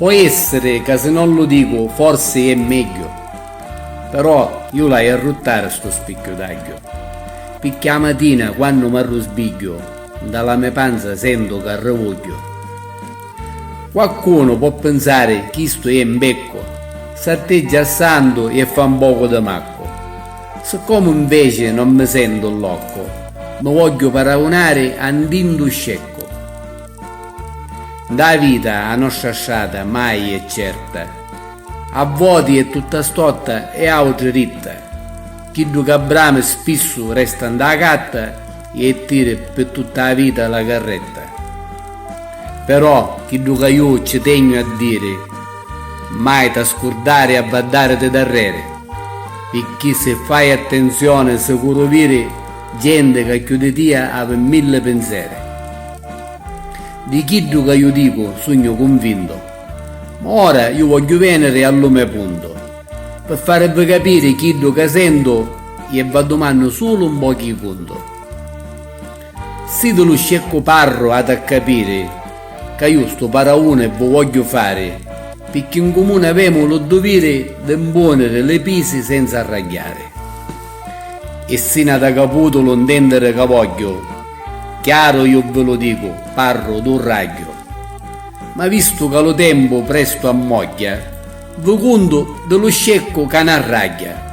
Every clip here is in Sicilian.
Po' essiri ca si non lu dicu forsi jè megghiu. Però ju l'haju a ruttari stu spicchiu d'agghiu. Picchì 'a matina quannu m'arrusbigghiu, nta la me panza sentu ca arrivugghiu. Quaccunu po' pinsari chistu è 'mbeccu, s'atteggia a santu e fa 'mpocu di maccu. Siccomu 'nveci non mi sentu lloccu, mi vogghiu paragunari a 'ndindu sceccu. 'nda vita 'a nostra strata mai è certa, a voti è tutta stotta e autri ritta, chiddu ca brami spissu resta 'nda catta, Jettiri pi tutta a vita la carretta. Però chiddu ca ju ci tegnu a diri, mai ta scurdari a vaddariti darreri, picchì si fai attenzioni sicuru viri genti ca chiù di tia avi milli pinseri. Di chiddu ca ju dicu sugnu cunvintu, ma ora ju vogghiu veniri a lu me puntu. Pi farivi capiri chiddu ca sentu ie v'addumannu sulu un pochi i cuntu. Si di lu sceccu parru ati a capiri ca iu stu parauni vu vogghiu fari picchì n cumuni avemu lu duviri di mpuniri li pisi senza arragghiari. E si n'ata caputu lu ntendiri ca vogghiu, chiaru iu vi lu dicu, parru du ragghiu. Ma vistu ca lu tempu prestu ammogghia, Vu cuntu di lu sceccu ca n'arragghia.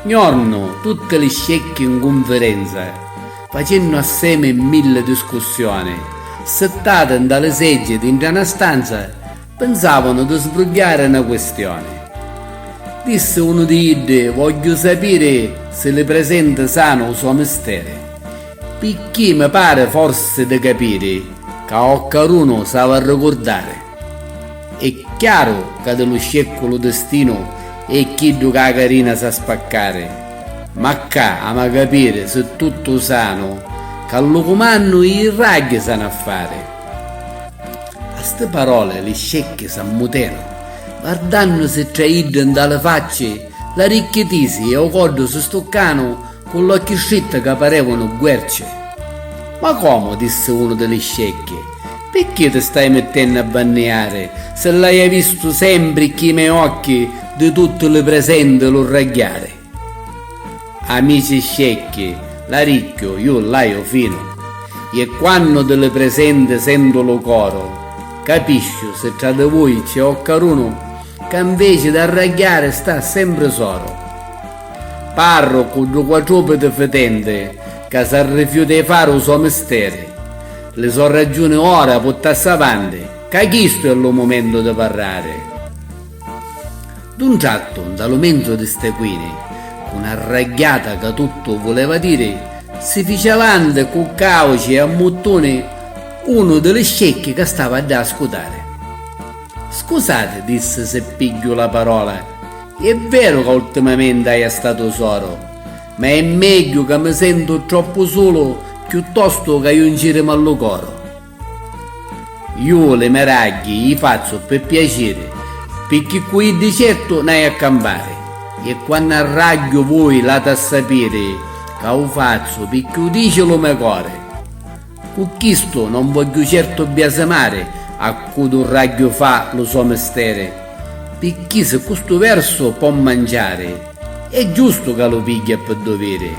Gnornu tutti li scecchi n cunfirenza facennu assemi milli discussioni, sittati nta li seggi dintra na stanza, pinsavanu di sbrugghiari na quistioni. Dissi unu di iddi vogghiu sapiri si li presenti sanu u so misteri, picchì mi pari forsi di capiri ca o carunu s'avi arricurdari. E' chiaru ca di lu sceccu lu distinu è chiddu ca a carina sa spaccari, ma cca ama capiri si tuttu u sanu ca lu cumannu i ragghi sanu a fari. A sti paroli li scecchi s'ammutenu, vardannusi tra iddi nta li facci, l'aricchi tisi e u coddu si stuccanu, Cu l'occhi stritti ca parevanu guerci. Ma comu, dissi unu di li scecchi, picchì ti stai mittennu a banniari, si l'aia vistu sempri cchi me occhi di tutti li presenti lu ragghiari? Amici scecchi, l'aricchiu ju l'aiu finu, je quannu di li presenti sentu lu coru, capisciu si tra di vui c'è occarunu ca nveci d'arragghiari sta sempri soru. Parru cu ddu quattrupiti fitenti ca s'arrifiuta i fari u so misteri. Li so raggiuni ora puttassi avanti ca chistu è lu mumentu di parrari. D'un trattu, nta lu menzu di ste quini, cu na ragghiata ca tuttu vuleva diri, si fici avanti cu cauci e ammuttuni unu di li scecchi ca stava ddà a scutari. Scusati, dissi si pigghiu la parola, È veru ca ultimamenti haju a sta tusoro, ma è megghiu ca mi sentu troppu sulu chiuttostu ca juncirimi a lu coro. Ju li me ragghi i fazzu pi piaciri, picchì cu iddi certu n'haju a campari, e quannu arragghiu vui l'hatu a sapiri ca u fazzu picchì u dici lu me cori. Cu chistu non vogghiu certu biasimari a cu Durragghiu fa lu so misteri, picchì si cu stu versu po manciari, è giustu ca lu pigghia ppi duviri.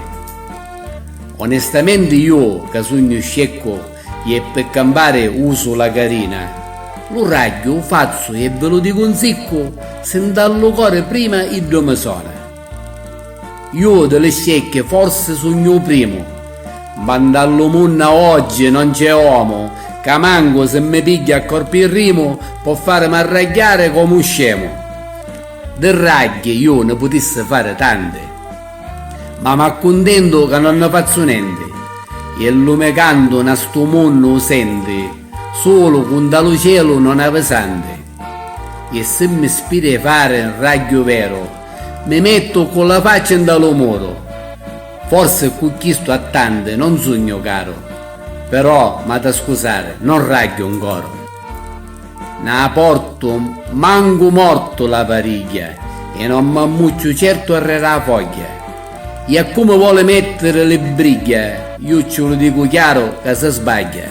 Onestamenti iu ca sugnu sceccu i e ppi campari usu la carina, lu ragghiu u fazzu i e vi lu dicu 'n siccu, si nta lu cori prima iddu mi sona. Ju di li scecchi forsi sugnu u primu, ma nta lu munna oggi non c'è omu ca mancu si mi pigghia a corpi i rimu po farimi arragghiari comu u scemu. Di ragghi ju ni putissi fari tanti, ma m'accuntentu ca non ni fazzu nenti e lu me cantu na stu munnu u senti sulu cu nta lu celu non avi santi. E si mi spiri 'e fari 'n ragghiu veru, mi mettu cu la facci 'nta lu muru. Forsi cu chistu a tanti non sugnu caru, però m'ha da scusari, non ragghiu 'n coru. Nna portu mancu mortu la varigghia e non m'ammucchiu certu arreri 'a fogghia. I a cu mi voli mettiri li brigghia, iu cci lu dicu chiaru ca si sbagghia.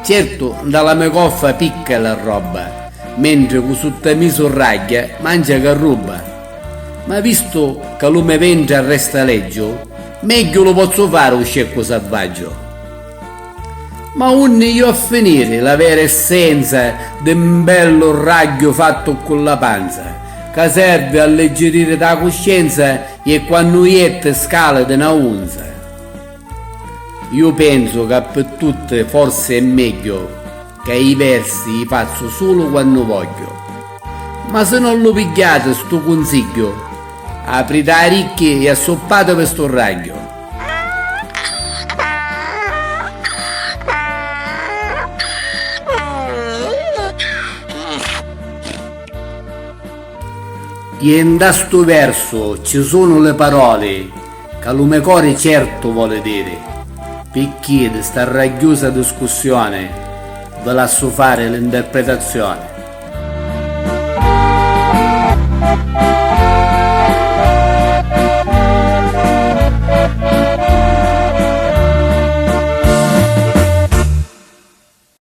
Certu nda la me coffa picca la robba, mentri cu sutta mi surragghia mancia ca rubba. Ma vistu ca lu me ventri arresta leggiu, megghiu lu pozzu fari u sceccu savvaggiu. Ma unni iu a finiri la vera essenza di mbellu ragghiu fattu cu la panza, ca servi alleggiririti a cuscienza ie quannu iette scali di na unza. Iu penzu ca pi tutti forsi è megghiu ca i versi i fazzu sulu quannu vogghiu. Ma si non lu pigghiati stu cunsigghiu, apriti a ricchi i assuppativi stu ragghiu. Dinta stu versu ci sunu li paroli. Ca lu me cori certu voli diri, picchì di sta ragghiusa discussioni vi lassu fari l'interpretazioni.